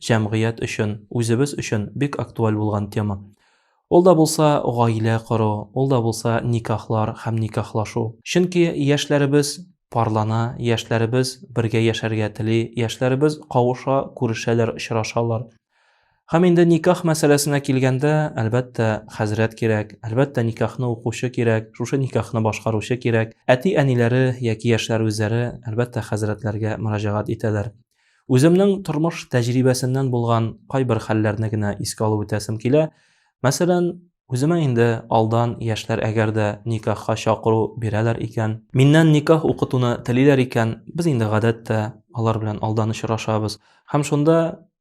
җәмгыять өчен, үзебез өчен бик актуаль булган тема. Ул да булса гаилә кору, ул да булса никахлар һәм никахлашу. Чөнки яшьләребез парлана, яшьләребез бергә яшәргә тели, яшьләребез кавыша, күрешәләр, очрашалар. Һәм инде никах мәсьәләсенә килгәндә, әлбәттә, хәзрәт кирәк, әлбәттә, никахны укучы кирәк, шушы никахны башкаручы кирәк. Әти-әниләре яки яшьләр үзләре, әлбәттә, хәзрәтләргә мөрәҗәгать итәләр. Үземнең тормыш тәҗрибәсеннән булган кайбер хәлләрне генә искә алып үтәсем килә. Мәсәлән, үземә инде алдан яшьләр әгәр дә никахка чакыру бирәләр икән, миннән никах укытуны телиләр икән, без инде гадәттә алар белән алдан очрашабыз. Һәм шунда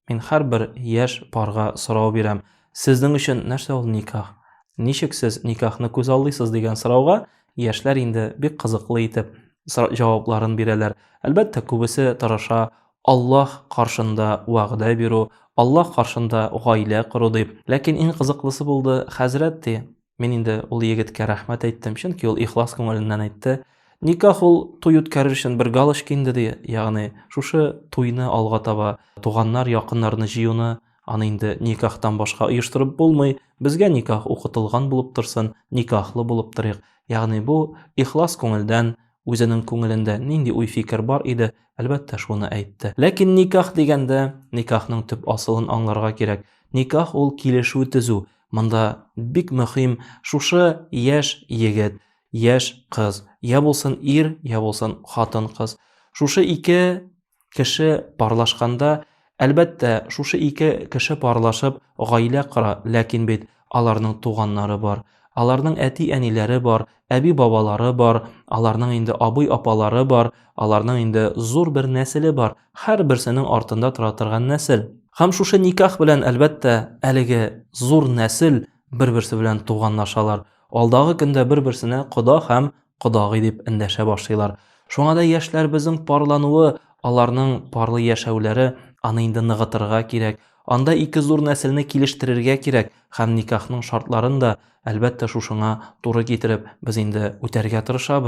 мин һәрбер яшь парга сорау бирәм. Сезнең өчен нәрсә ул никах? Ничек сез никахны күзаллыйсыз дигән сорауга Яшьләр инде бик кызыклы итеп җавапларын бирәләр. Әлбәттә, күбесе тырыша Аллаһ каршында вәгъдә бирү, Аллаһ каршында гаилә кору дип. Ләкин иң кызыклысы булды, хәзрәт ди, мин инде ул егеткә рәхмәт әйттем, чөнки ул ихлас күңеленнән әйтте. Никах ул туй үткәрер өчен бер галочка инде ди, ягъни шушы туйны алга таба туганнар, якыннарны җыюны Аны инде никахтан башка оештырып булмый. Безгә никах укытылган булып торсын, никахлы булып торыйк. Ягъни бу ихлас күңелдән, үзенең күңелендә нинди уй-фикер бар иде, әлбәттә, шуны әйтте. Ләкин никах дигәндә, никахның төп асылын аңларга кирәк. Никах ул килешү төзү. Монда бик мөһим шушы яшь егет, яшь кыз, я булсын ир, я булсын хатын-кыз. Шушы ике Кеше парлашканда, әлбәттә, шушы ике кеше парлашып гаилә кора, ләкин бит аларның туганнары бар, аларның әти-әниләре бар, әби-бабалары бар, аларның инде абый-апалары бар, аларның инде зур бер нәселе бар, һәрберсенең артында тора торган нәсел. Һәм шушы никах белән, әлбәттә, әлеге зур нәсел бер-берсе белән туганлашалар, алдагы көндә бер-берсенә кода һәм кодагый дип эндәшә башлыйлар. Шуңа да яшьләребезнең парлануы, аларның парлы яшәүләре аны инде ныгытырга кирәк. Анда ике зур нәселне килештерергә кирәк һәм никахның шартларын да, әлбәттә, шушыңа туры китереп, без инде үтәргә тырышабыз.